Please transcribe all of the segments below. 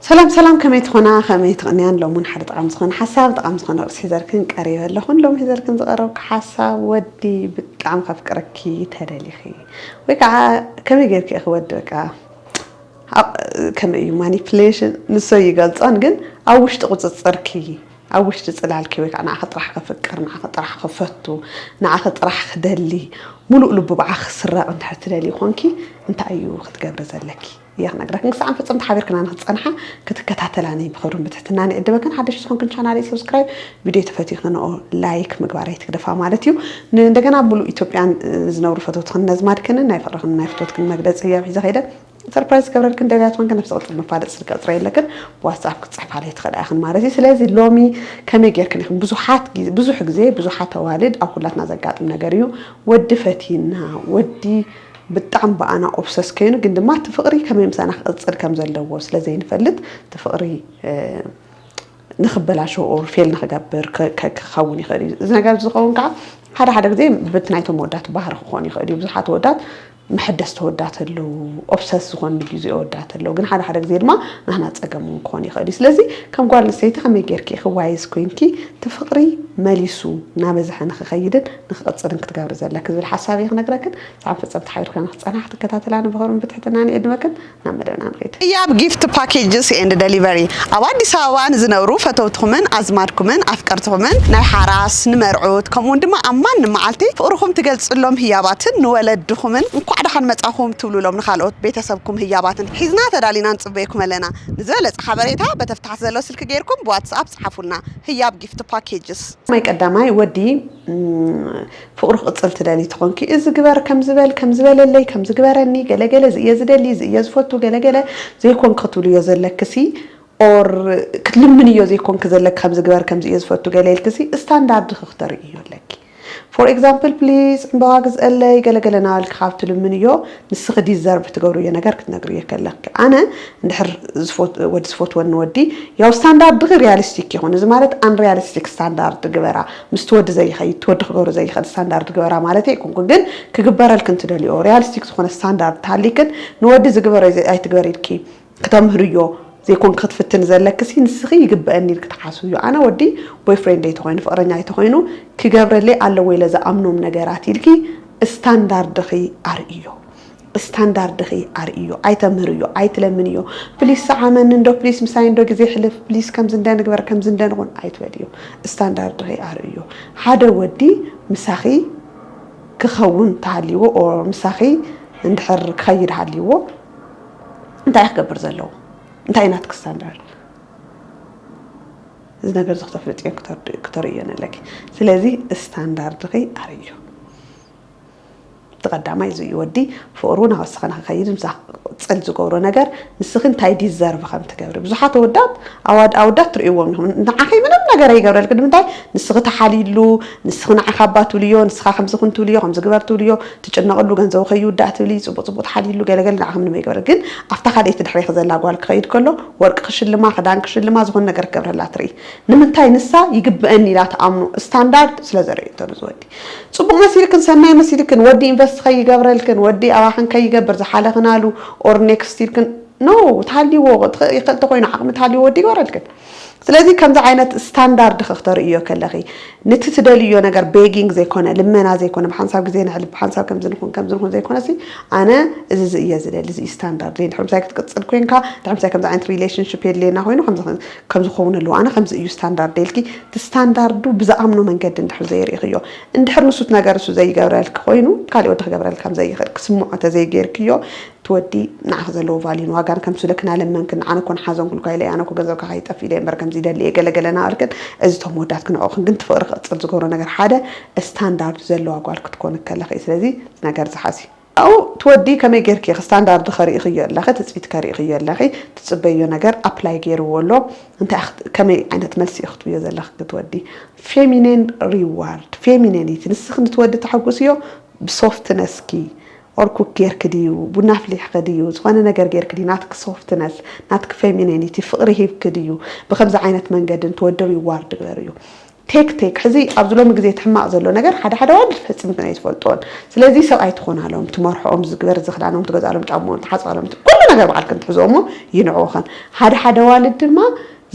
ሰላም ሰላም ከመይ ትኾና ከመይ ትቕንያን ሎሚ ሓደ ጠቓሚ ዝኾነ ሓሳብ ጠቓሚ ዝኾነ ርእሲ ሒዘልክን ቀሪበ ኣለኹን ሎሚ ሒዘልክን ዝቐረብኩ ሓሳብ ወዲ ብጣዕሚ ከፍቅረኪ ተደሊኺ ወይ ከዓ ከመይ ጌርኪ ኢኺ ወዲ በቃ ከመይ እዩ ማኒፕሌሽን ንሶ ይገልፆን ግን ኣብ ውሽጢ ቁፅፅርኪ ኣብ ውሽጢ ጽላልኪ ወይ ከኣ ንዓኺ ጥራሕ ከፍቅር፣ ንዓኺ ጥራሕ ክፈቱ፣ ንዓኺ ጥራሕ ክደሊ፣ ምሉእ ልቡ ብዓኺ ክስረቕ እንድሕር ትደልዪ ኾንኪ እንታይ እዩ ክትገብሪ ዘለኪ እየ ክነግረክን ክሳዕን ፍጽምቲ ሓቢርክና ንክትጸንሓ ክትከታተላኒ ብኽብርን ብትሕትናን ይዕድመክን ሓደሽቲ ዝኾንክን ቻናለይ ሰብስክራይብ ቪድዮይ ተፈቲኽን ንኦ ላይክ ምግባር ኣይትግደፋ ማለት እዩ ንእንደገና ምሉእ ኢትዮጵያን ዝነብሩ ፈተውትኽን ነዝማድክንን ናይ ፍቕርኽን ናይ ፍትወትክን መግለጺ እየ ሒዘ ከይደ ሰርፕራይዝ ዝገብረን ክንደብያ ትኾንክን ነብሰ ቅልጥፍ መፋለጢ ስልኪ ቅፅረ የለክን ብዋትስኣፕ ክትፅሕፋለይ ትኽእላ ኢኽን ማለት እዩ ስለዚ ሎሚ ከመይ ጌርክን ኢኽን ብዙሓት ብዙሕ ግዜ ብዙሓት ኣዋልድ ኣብ ኩላትና ዘጋጥም ነገር እዩ ወዲ ፈቲና ወዲ ብጣዕሚ ብኣና ኦብሰስ ከይኑ ግን ድማ እቲ ፍቕሪ ከመይ ምሳና ክቕፅል ከም ዘለዎ ስለ ዘይንፈልጥ እቲ ፍቕሪ ንክበላሸው ኦር ፌል ንክገብር ክኸውን ይኽእል እዩ እዚ ነገር ዝኸውን ከዓ ሓደ ሓደ ግዜ በቲ ናይቶም ወዳት ባህሪ ክኾን ይኽእል እዩ ብዙሓት ወዳት መሐደስቲ ኣወዳት ኣለው፣ ኦብሰስ ዝኾኑ ጊዙ ኣወዳት ኣለው፣ ግን ሓደ ሓደ ግዜ ድማ ናህና ጸገም ውን ክኾን ይኽእል እዩ፣ ስለዚ ከም ጓል ኣንስተይቲ ከመይ ጌርኪ ኢኺ ዋይዝ ኮይንኪ እቲ ፍቕሪ መሊሱ ናበዝሐ ንኽኸይድን ንኽቕጽልን ክትገብሪ ዘለኪ ዝብል ሓሳብ እየ ክነግረክን፣ ሰኣን ፈጸምቲ ሓቢርክና ንኽትጸንሓ ክትከታተላኒ ብኽብርን ብትሕትናን እየ እድመክን። ናብ መደብና ንኸይድ። ህያብ ጊፍት ፓኬጅስ ኤንድ ደሊቨሪ ኣብ ኣዲስ ኣበባ ንዝነብሩ ፈተውትኹምን ኣዝማድኩምን ኣፍቀርትኹምን ናይ ሓራስ፣ ንመርዑት ከምኡውን ድማ ኣብ ማንም መዓልቲ ፍቕርኹም ትገልጽሎም ህያባትን ንወለድኹምን እንኳዕ ደሓን መጻኹም ትብሉሎም ንኻልኦት ቤተሰብኩም ህያባትን ሒዝና ተዳሊና ንጽበየኩም ኣለና። ንዝበለጸ ሓበሬታ በተ ታሕቲ ዘሎ ስልኪ ጌርኩም ብዋትስኣፕ ጽሓፉልና። ህያብ ጊፍት ፓኬጅስ። ናይ ቀዳማይ ወዲ ፍቕሩ ክቕጽል ትደልዪ ተኾንኪ እዚ ግበር ከምዚ በል ከምዚ በለለይ ከምዚ ግበረኒ ገለ ገለ እዚ እየ ዝደሊ እዚ እየ ዝፈቱ ገለ ገለ ዘይኮንኪ ክትብልዮ ዘለክሲ ኦር ክትልምንዮ ዘይኮንኪ ዘለኪ ከምዚ ግበር ከምዚ እየ ዝፈቱ ገለ ኢልክሲ ስታንዳርድኺ ክተርእይዮ ኣለኪ ፎር ኤግዛምፕል ፕሊዝ ዕምበባ ግዝአለይ ገለ ገለ ናበልኪ ካብ ትልምንዮ ንስኺ ዲዘርቭ ትገብርዮ ነገር ክትነግርዮ ከለኪ ኣነ እንድሕር ወዲ ዝፈትወኒ ወዲ ያው ስታንዳርድኺ ሪያሊስቲክ ይኹን እዚ ማለት ኣንሪያሊስቲክ ስታንዳርድ ግበራ ምስቲ ወዲ ዘይኸይድ እቲ ወዲ ክገብሮ ዘይኽእል ስታንዳርድ ግበራ ማለተይ ኣይኮንኩን ግን ክግበረልክን ትደልይኦ ርያልስቲክ ዝኾነ ስታንዳርድ ተሃሊክን ንወዲ ዝግበሮ ኣይትግበሪ ኢልኪ ክተምህርዮ ዘይኮንኪ ክትፍትኒ ዘለክሲ ንስኺ ይግበእኒ ኢልኪ ትሓስብዮ ኣነ ወዲ ቦይፍሬንደይ ተኾይኑ ፍቕረኛይ ተኾይኑ ክገብረለይ ኣለዎ ኢለ ዝኣምኖም ነገራት ኢልኪ ስታንዳርድኺ ኣርእይዮ ስታንዳርድኺ ኣርእዮ ኣይተምህርዮ ኣይትለምንዮ ፕሊስ ሰዓመኒ እንዶ ፕሊስ ምሳይ እንዶ ግዜ ሕልፍ ፕሊስ ከምዚ እንደ ንግበር ከምዚ እንደ ንኹን ኣይትበልዮ ስታንዳርድኺ ኣርእዮ ሓደ ወዲ ምሳኺ ክኸውን ተሃልይዎ ኦር ምሳኺ እንድሕር ክኸይድ ሃልይዎ እንታይ ክገብር ዘለዎ እንታይ ናትኪ ስታንዳርድ እዚ ነገር እዚ ክተፍልጥዮ ክተርእዮን ኣለኪ ስለዚ ስታንዳርድኺ ኣርእዮ እቲ ቀዳማይ እዚ እዩ ወዲ ፍቅሩ ናወሰኸ ንክኸይድ ምሳኺ ክቅፅል ዝገብሮ ነገር ንስኺ እንታይ ዲዘርቭ ከምትገብሪ ብዙሓት ኣወዳት ኣዋድ ኣወዳት ትርእይዎም ኢኹም ንዓኺ ምንም ነገር ኣይገብረልኪ ንምንታይ ንስኺ ተሓልይሉ ንስኺ ንዓኺ ኣባ ትብልዮ ንስኻ ከምዚ ኩን ትብልዮ ከምዚ ግበር ትብልዮ ትጭነቅሉ ገንዘቡ ከይውዳእ ትብሊ ፅቡቅ ፅቡቅ ትሓልይሉ ገለገለ ንዓኺ ምንም ኣይገብረ ግን ኣብታ ካልኣይቲ ድሕሬኺ ዘላ ጓል ክኸይድ ከሎ ወርቂ ክሽልማ ክዳን ክሽልማ ዝኾነ ነገር ክገብረላ ትርኢ ንምንታይ ንሳ ይግበእኒ ኢላ ትኣምኖ ስታንዳርድ ስለዘርእዩ እንተሉ ዝወዲ ጽቡቅ መሲልክን ሰናይ መሲልክን ወዲ ኢንቨስት ከይገብረልክን ወዲ ኣባክን ከይገብር ዝሓለክናሉ or next ኢልክን no ተሃልይዎ ይክእል ተኮይኑ ዓቅሚ ተሃልይዎ ወዲ ይግበረልክን ስለዚ ከምዚ ዓይነት ስታንዳርድኪ ክተርእዮ ከለኪ ንቲ ትደልይዮ ነገር ቤጊንግ ዘይኮነ ልመና ዘይኮነ ብሓንሳብ ግዜ ነሕልፍ ብሓንሳብ ከምዚ ንኩን ከምዚ ንኩን ዘይኮነሲ ኣነ እዚ እዚ እየ ዝደሊ እዚ ስታንዳርድ ድሕሪ ምሳይ ክትቅጽል ኮንካ ድሕሪ ምሳይ ከምዚ ዓይነት ሪሌሽንሽፕ የድልየና ኮይኑ ከምዚ ከምዚ ክኸውን ኣለዎ ኣነ ከምዚ እዩ ስታንዳርድ ኢልኪ እቲ ስታንዳርዱ ብዝኣምኖ መንገዲ እንድሕር ዘይርኢኽዮ፣ እንድሕር ንሱት ነገር እሱ ዘይገብረልኪ ኮይኑ ካሊእ ወዲ ክገብረልኪ ከም ዘይኽእል ክስምዖ ተዘይገይርክዮ እቲ ወዲ ንዓኺ ዘለዎ ቫልዩን ዋጋን ከምሱ ኢለኪ ናለመንክን ኣነ እኮ ንሓዘንኩልካ ኢለ ኣነ እኮ ገንዘብካ ከይጠፍእ ኢለ እምበር ከምዚ ይደሊ እየ ገለ ገለ ናበልክን እዚ እቶም ወዳት ክነዕቁኽን ግን እቲ ፍቕሪ ክቕፅል ዝገብሮ ነገር ሓደ ስታንዳርዱ ዘለዋ ጓል ክትኮኒ ከለኺ እዩ ስለዚ እዚ ነገር እዚ ሓዚ ኣብኡ ትወዲ ከመይ ጌርኪ ኢኺ ስታንዳርድኸ ርኢኽዮ ኣለኺ ትጽቢትከ ርኢኽዮ ኣለኺ ትጽበይዮ ነገር ኣፕላይ ጌርዎ ኣሎ እንታይ ኢኺ ከመይ ዓይነት መልሲ ኢኺ ክትብዮ ዘለኺ ክትወዲ ፌሚኔን ሪዋርድ ፌሚኔኒቲ ንስኺ ንትወዲ ተሐጉስዮ ብሶፍትነስኪ ኦር ኩክ ጌርኪ ድዩ ቡና ኣፍሊሕኺ ድዩ ዝኾነ ነገር ጌርኪ ድዩ ናትኪ ሶፍትነስ ናትኪ ፌሚኔኒቲ ፍቕሪ ሂብኪ ድዩ ብከምዚ ዓይነት መንገዲ ንትወዲ ሪዋርድ ግበርዮ ቴክ ቴክ ሕዚ ኣብዚ ሎሚ ግዜ እቲ ሕማቅ ዘሎ ነገር ሓደ ሓደ ኣዋልድ ፈጺምክን ኣይትፈልጥኦን ስለዚ ሰብ ኣይትኾናሎም ትመርሕኦም ዝግበር ዝኽዳኖም ትገዝኣሎም ጫምኦም ትሓጽባሎም ኩሉ ነገር ባዕልክን ትሕዝኦ እሞ ይንዕውኽን ሓደ ሓደ ኣዋልድ ድማ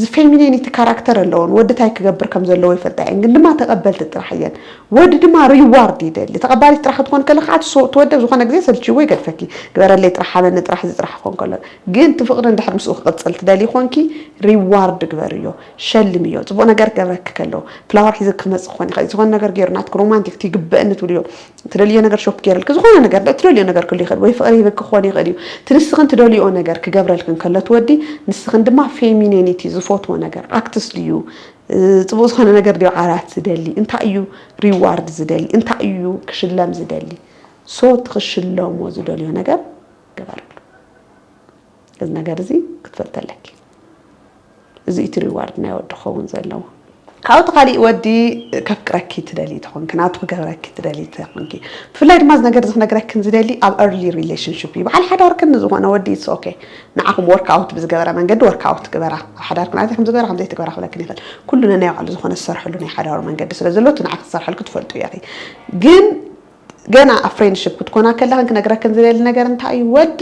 ዝፌሚኔኒቲ ካራክተር ኣለወን ወዲ ታይ ክገብር ከም ዘለዎ ይፈልጣ እየን ግን ድማ ተቀበልቲ ጥራሕ እየን ወዲ ድማ ሪዋርድ ይደሊ ተቀባሊት ጥራሕ ክትኾኒ ከለኪ ከዓ ትወዲ ኣብ ዝኾነ ግዜ ሰልችይዎ ይገድፈኪ ግበረለይ ጥራሕ ሃበኒ ጥራሕ እዚ ጥራሕ ክኾን ከሎ ግን እቲ ፍቅሪ እንድሕር ምስኡ ክቅጽል ትደልዪ ኾንኪ ሪዋርድ ግበርዮ ሸልምዮ ጽቡቅ ነገር ክገብረኪ ከሎ ፍላወር ሒዙ ክመጽእ ክኮን ይክእል ዝኮነ ነገር ጌሩ ናትኪ ሮማንቲክ እቲ ይግበእኒ ትብልዮ ትደልዮ ነገር ሾፕ ጌርልኪ ዝኮነ ነገር ዶ ትደልዮ ነገር ክህሉ ይክእል ወይ ፍቅሪ ሂብኪ ክኮን ይክእል እዩ እቲ ንስክን ትደልይኦ ነገር ክገብረልክን ከሎ እቲ ወዲ ንስክን ድማ ፌሚኔኒቲ ዝፎትዎ ነገር ኣክትስ ድዩ ጽቡቅ ዝኮነ ነገር ድዩ ዓራት ዝደሊ እንታይ እዩ ሪዋርድ ዝደሊ እንታይ እዩ ክሽለም ዝደሊ ሶ እቲ ክሽለሞ ዝደልዮ ነገር ግበርሉ። እዚ ነገር እዚ ክትፈልጢ ኣለኪ እዚ እቲ ሪዋርድ ናይ ወዲ ክኸውን ዘለዎ። ካብኡ እቲ ካሊእ ወዲ ከፍቅረኪ ትደልዪ ተኾንኪ ናቱ ክገብረኪ ትደልዪ ተኾንኪ ብፍላይ ድማ እዚ ነገር እዚ ክነግረክን ዝደሊ ኣብ early relationship እዩ በዓል ሓዳርክን ንዝኾነ ወዲ it's ok ንዓኹም work out ብዝገበረ መንገዲ work out ግበራ ኣብ ሓዳርክን ኣዚ ከምዚ ግበራ ከምዘይ ትግበራ ክብለክን ይኽእል ኩሉ ነናይ ባዕሉ ዝኾነ ዝሰርሐሉ ናይ ሓዳሩ መንገዲ ስለ ዘሎ እቲ ንዓኺ ዝሰርሐልኪ ትፈልጡ ኢኺ ግን ገና ኣብ ፍሬንድሽፕ ክትኮና ከለኽን ክነግረክን ዝደሊ ነገር እንታይ እዩ ወዲ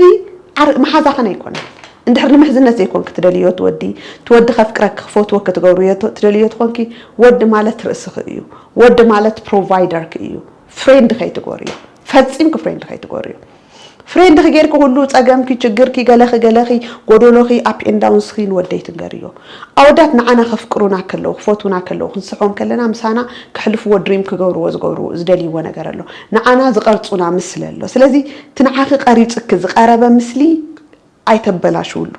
ዓር መሓዛኽን ኣይኮነን እንድሕር ንምሕዝነት ዘይኮንኪ ትደልዮ እቲ ወዲ እቲ ወዲ ከፍቅረኪ ክፈትዎ ክትገብርዮ ትደልዮ ትኾንኪ ወዲ ማለት ርእስኺ እዩ ወዲ ማለት ፕሮቫይደርኪ እዩ ፍሬንድ ከይትጎርዮ ፈጺምኪ ፍሬንድ ከይትጎርዮ ፍሬንድኺ ጌርኪ ኩሉ ጸገምኪ ችግርኪ ገለኺ ገለኺ ጎዶሎኺ ኣፕ ኤንድ ዳውንስኺ ንወደይ ትንገርዮ። ኣወዳት ንዓና ከፍቅሩና ከለዉ ክፈትዉና ከለዉ ክንስሕቦም ከለና ምሳና ከሕልፍዎ ድሪም ክገብርዎ ዝገብርዎ ዝደልይዎ ነገር ኣሎ። ንዓና ዝቀርጹና ምስሊ ኣሎ። ስለዚ እቲ ንዓኺ ቀሪጽኪ ዝቀረበ ምስሊ ኣይተበላሽውሉ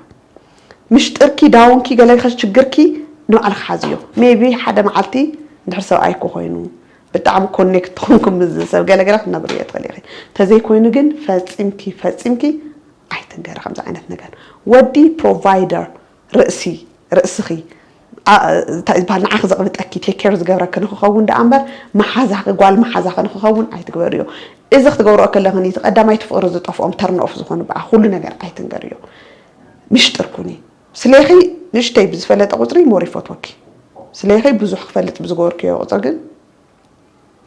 ምሽጥርኪ ዳውንኪ ገለ ሽግርኪ ንባዕልኪ ሓዝዮ ሜይቢ ሓደ መዓልቲ እንድሕር ሰብኣይኪ ኮይኑ ብጣዕሚ ኮኔክት ተኾንኩም ምስዚ ሰብ ገለ ገለ ክትነብርዮ ትኽእሊ ኢኺ ተዘይ ኮይኑ ግን ፈጺምኪ ፈጺምኪ ኣይትንገሪ ከምዚ ዓይነት ነገር ወዲ ፕሮቫይደር ርእሲ፣ ርእስኺ፣ እንታይ እዩ ዝበሃል ንዓኺ ዘቕብጠኪ፣ ቴክ ኬር ዝገብረኪ ንኽኸውን ደኣ እምበር መሓዛኺ፣ ጓል መሓዛኺ ንኽኸውን ኣይትግበርዮ። እዚ ክትገብርኦ ከለኺ ንቲ ቀዳማይቲ ፍቕሪ ዝጠፍኦም ተርን ኦፍ ዝኾኑ በኣ ኩሉ ነገር ኣይትንገርዮ። ምሽጥር ኩኒ። ስሌኺ ንእሽተይ ብዝፈለጠ ቁጽሪ ሞር ይፈትወኪ። ስሌኺ ብዙሕ ክፈልጥ ብዝገበርክዮ ቁጽሪ ግን።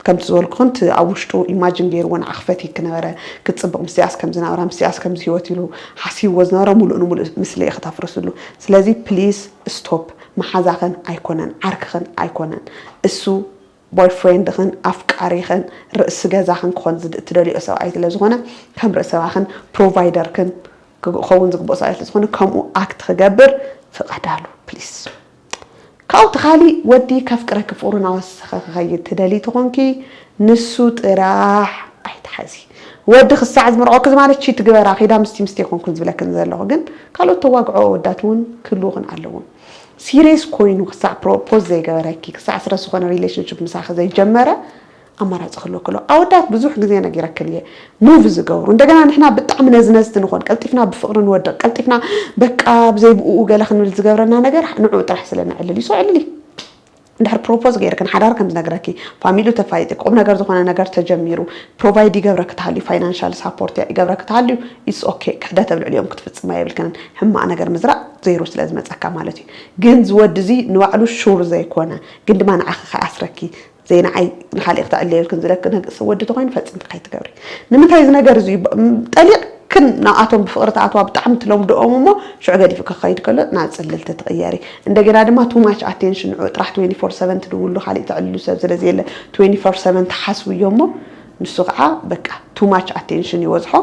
ከምቲ ዝበልኩክን እቲ ኣብ ውሽጡ ኢማጅን ገይርዎ ንዓ ክፈትዪ ክነበረ ክትጽብቅ ምስያስ ከምዚ ናብራ ምስያስ ከምዚ ሂወት ኢሉ ሓሲብዎ ዝነበረ ሙሉእ ንሙሉእ ምስሊ'የ ክተፍርስሉ ስለዚ ፕሊስ ስቶፕ መሓዛክን ኣይኮነን ዓርክክን ኣይኮነን እሱ ቦይፍሬንድክን ኣፍቃሪክን ርእሲ ገዛክን ክኮን እትደልይኦ ሰብኣይ ስለ ዝኮነ ከም ርእሲ ገዛክን ፕሮቫይደርክን ክከውን ዝግብኦ ሰብኣይ ስለ ዝኮነ ከምኡ ኣክት ክገብር ፍቀዳሉ ፕሊስ። ካብኡ እቲ ካሊእ ወዲ ከፍቅረኪ ፍቅሩ ናወሰኸ ክኸይድ ትደልዪ ተኾንኪ ንሱ ጥራሕ ኣይትሓዚ ወዲ ክሳዕ ዝምርዖኪ ዝማለት ቺት ግበራ ኪዳ ምስቲ ምስቲ ኣይኮንኩን ዝብለክን ዘለኹ ግን ካልኦት ተዋግዖ ኣወዳት እውን ክህልዉኽን ኣለዎም ሲሬስ ኮይኑ ክሳዕ ፕሮፖዝ ዘይገበረኪ ክሳዕ ስረስ ዝኾነ ሪሌሽንሽፕ ምሳኺ ዘይጀመረ ኣማራጺ ክህልወኪ ኣለዎ ኣወዳት ብዙሕ ግዜ ነጊረክን እየ ሙቭ ዝገብሩ እንደገና ንሕና ብጣዕሚ ነዝነዝቲ ንኾን ቀልጢፍና ብፍቅሪ ንወድቅ ቀልጢፍና በቃ ብዘይ ብኡ ገለ ክንብል ዝገብረና ነገር ንዑ ጥራሕ ስለ ንዕልል እዩ ሶ ዕልሊ ድሕር ፕሮፖዝ ገይርክን ሓዳር ከም ዝነግረኪ ፋሚሉ ተፋይጢ ቁም ነገር ዝኾነ ነገር ተጀሚሩ ፕሮቫይድ ይገብረኪ ተሃልዩ ፋይናንሻል ሳፖርት ይገብረኪ ተሃልዩ ኢትስ ኦኬ ክሕደት ኣብ ልዕሊኦም ክትፍጽማ የብልክንን ሕማቅ ነገር ምዝራእ ዘይሩ ስለ ዝመጸካ ማለት እዩ ግን ዝወዲ እዚ ንባዕሉ ሹር ዘይኮነ ግን ድማ ንዓኺ ከኣስረኪ ዘይንዓይ ንካሊእ ክተዕልየልክን ዝለኪ ነግ እስ ወዲ ተኮይኑ ፈጽምኪ ከይትገብሪ ንምንታይ እዚ ነገር እዚ እዩ ጠሊቅ ክን ናብኣቶም ብፍቅሪ ትኣትዋ ብጣዕሚ ትለምድኦም እሞ ሽዑ ገዲፍኪ ክከይድ ከሎ ናብ ጽልልቲ ትቅየሪ እንደገና ድማ ቱ ማች ኣቴንሽን ንዑ ጥራሕ ትዌኒ ፎር ሰቨን ትድውሉ ካሊእ ተዕልሉ ሰብ ስለ ዘየለ ትዌኒ ፎር ሰቨን ትሓስብዮ እሞ ንሱ ከዓ በቃ ቱ ማች ኣቴንሽን ይወዝሖ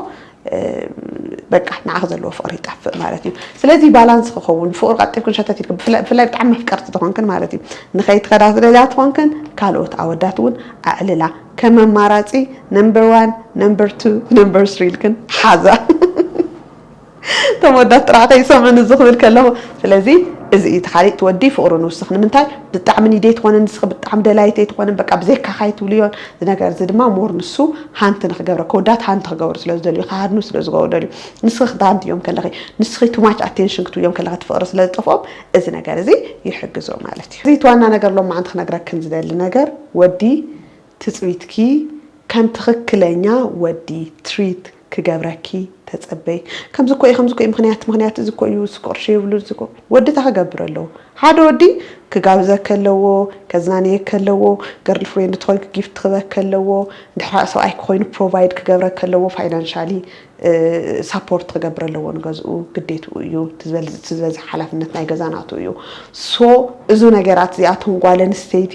በቃ ንዓኺ ዘለዎ ፍቕሪ ይጠፍእ ማለት እዩ ስለዚ ባላንስ ክኸውን ፍቕሪ ቀጢብክን ሸተት ኢልክን ብፍላይ ብጣዕሚ መፍቀርቲ ዝኾንክን ማለት እዩ ንኸይትኸዳ ዝደልያ ትኾንክን ካልኦት ኣወዳት እውን ኣዕልላ ከም ኣማራፂ ነምበር ዋን ነምበር ቱ ነምበር ስሪ ኢልክን ሓዛ እቶም ወዳት ጥራሕ ከይሰምዑን እዚ ክብል ከለኹ ስለዚ እዚ እዩ እቲ ካሊእ ትወዲ ፍቕሩ ንውስኽ ንምንታይ ብጣዕሚ ኒዴት ኾነ ንስኺ ብጣዕሚ ደላይተይ ትኾንን በቃ ብዘይካኻ ኣይትብልዮን እዚ ነገር እዚ ድማ ሞር ንሱ ሃንት ንክገብረ ከወዳት ሃንት ክገብሩ ስለ ዝደልዩ ክሃድኑ ስለ ዝገብሩ ደልዩ ንስኺ ክትሃንትዮም ከለኺ ንስኺ ቱማች ኣቴንሽን ክትብዮም ከለኺ ፍቕሪ ስለ ዝጠፍኦም እዚ ነገር እዚ ይሕግዞ ማለት እዩ። እዚ እቲ ዋና ነገር ሎማዓንቲ ክነግረክን ዝደሊ ነገር ወዲ ትጽቢትኪ ከም ትኽክለኛ ወዲ ትሪት ክገብረኪ ተጸበይ ከምዚ እኮ እዩ ከምዚ እኮ እዩ ምክንያት ምክንያት እዚ እኮ እዩ እዚ ቅርሺ የብሉን እዚ እኮ ወዲ እንታይ ክገብር ኣለዎ ሓደ ወዲ ክጋብዘከ ኣለዎ ከዝናንየከ ኣለዎ ገርል ፍሬንድ ትኾንክ ጊፍት ክበከ ኣለዎ እንድሕር ሰብኣይ ክኮይኑ ፕሮቫይድ ክገብረከ ኣለዎ ፋይናንሻሊ ሳፖርት ክገብር ኣለዎ ንገዝኡ ግዴትኡ እዩ እቲ ዝበዝሕ ሓላፍነት ናይ ገዛ ናቱ እዩ ሶ እዚ ነገራት እዚኣቶም ጓል ኣንስተይቲ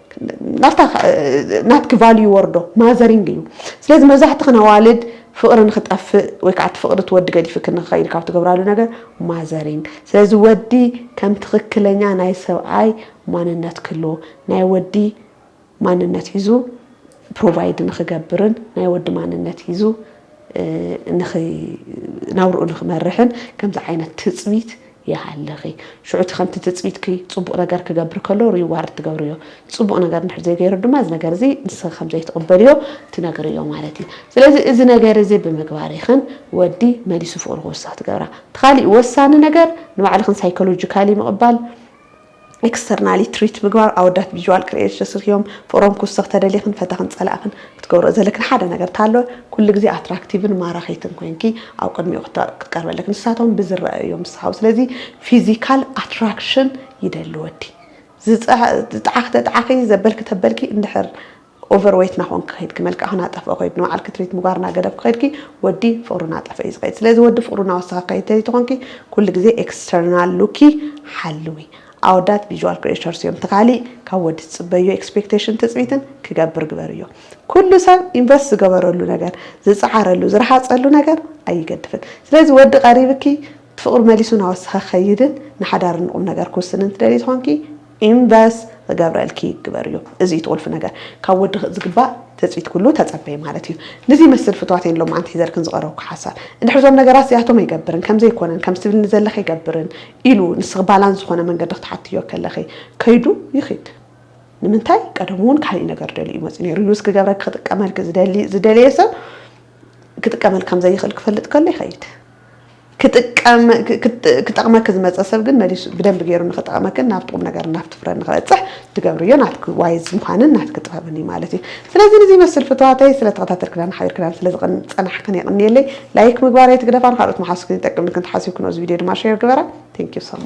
ናብታ ናትኪ ቫልዩ ይወርዶ ማዘሪንግ እዩ ስለዚ መብዛሕትኽን ኣዋልድ ፍቕሪ ንክጠፍእ ወይ ከዓ እቲ ፍቕሪ እቲ ወዲ ገዲፍክን ንክኸይድ ካብ ትገብራሉ ነገር ማዘሪንግ ስለዚ ወዲ ከም ትኽክለኛ ናይ ሰብኣይ ማንነት ክህልዎ ናይ ወዲ ማንነት ሒዙ ፕሮቫይድ ንክገብርን ናይ ወዲ ማንነት ሒዙ ናብርኡ ንክመርሕን ከምዚ ዓይነት ትፅቢት ይሃልኺ ሽዑ እቲ ከምቲ ትጽቢትኪ ጽቡቕ ነገር ክገብር ከሎ ሪዋርድ ትገብርዮ ጽቡቕ ነገር እንድሕር ዘይገይሩ ድማ እዚ ነገር እዚ ንስኺ ከም ዘይትቕበልዮ ትነግርዮ ማለት እዩ ስለዚ እዚ ነገር እዚ ብምግባር ኢኽን ወዲ መሊሱ ፍቕሩ ክውስኽ ትገብራ እቲ ካሊእ ወሳኒ ነገር ንባዕልኽን ሳይኮሎጂካሊ ምቕባል ኤክስተርናሊ ትሪት ምግባር ኣወዳት ቪዥዋል ክርኤት ሸስርክዮም ፍቅሮም ክውስኽ ተደሊኽን ፈተኽን ጸላእኽን ክትገብርኦ ዘለክን ሓደ ነገር ታሎ ኩሉ ግዜ ኣትራክቲቭን ማራኺትን ኮይንኪ ኣብ ቅድሚኡ ክትቀርቢ ኣለኪ ንሳቶም ብዝረኣዩ እዮም ዝስሓቡ ስለዚ ፊዚካል ኣትራክሽን ይደሊ ወዲ ዝጠዓኺ ተጠዓኺ ዘበልኪ ተበልኪ እንድሕር ኦቨር ወይት ናኾንኪ ከይድኪ መልክዕኺ ናጠፍኦ ከይዱ ንባዕልኪ ትሪት ምግባር ናገደፍኪ ከይድኪ ወዲ ፍቅሩ ናጠፍኦ እዩ ዝኸይድ ስለዚ ወዲ ፍቅሩ ናወሰኸ ከይድ ተዘይተኾንኪ ኩሉ ግዜ ኤክስተርናል ሉኪ ሓልዊ ኣወዳት ቪዥዋል ክሬተርስ እዮም እቲ ካሊእ ካብ ወዲ ትፅበዮ ኤክስፔክቴሽን ትፅቢትን ክገብር ግበርዮ ኩሉ ሰብ ኢንቨስት ዝገበረሉ ነገር ዝፀዓረሉ ዝረሃፀሉ ነገር ኣይገድፍን ስለዚ ወዲ ቀሪብኪ ፍቕሪ መሊሱ ናወሰኸ ክኸይድን ንሓዳር ንቑምነገር ክውስንን ትደልዪ ተኾንኪ ኢንቨስ ክገብረልኪ ግበሪ እዩ እዚ እዩ እቲ ቁልፊ ነገር ካብ ወዲ ዝግባእ ትፅቢት ኩሉ ተፀበዪ ማለት እዩ ንዚ ይመስል ፍትዋተይ ንሎምዓንቲ ሒዘልክን ዝቐረብኩ ሓሳብ እንድሕር እዞም ነገራት እዚኣቶም ኣይገብርን ከምዘይኮነን ከምዚ ትብልኒ ዘለኺ ኣይገብርን ኢሉ ንስኺ ባላንስ ዝኾነ መንገዲ ክትሓትዮ ከለኺ ከይዱ ይኺድ ንምንታይ ቀደሙ እውን ካሊእ ነገር ደልዩ እዩ መፅኡ ነይሩ ዩዝ ክገብረኪ ክጥቀመልኪ ዝደሊ ዝደለየ ሰብ ክጥቀመልኪ ከምዘይኽእል ክፈልጥ ከሎ ይኸይድ ክጠቕመኪ ዝመፀ ሰብ ግን መሊሱ ብደንቢ ገይሩ ንክጠቕመክን ናብቲ ቁም ነገርን ናብቲ ፍረን ንክበፅሕ ትገብርዮ ናትኪ ዋይዝ ምዃንን ናትኪ ጥበብን እዩ ማለት እዩ። ስለዚ ንዚ ይመስል ፍቱዋተይ ስለተኸታተልክናን ሓቢርክናን ስለዝፀናሕክን የቕንየለይ። ላይክ ምግባር ኣይትግደፋ ንካልኦት ምሓዙትክን ይጠቅም ኢልክን ተሓሲብክንኦ እዚ ቪድዮ ድማ ሼር ግበራ። Thank you so much።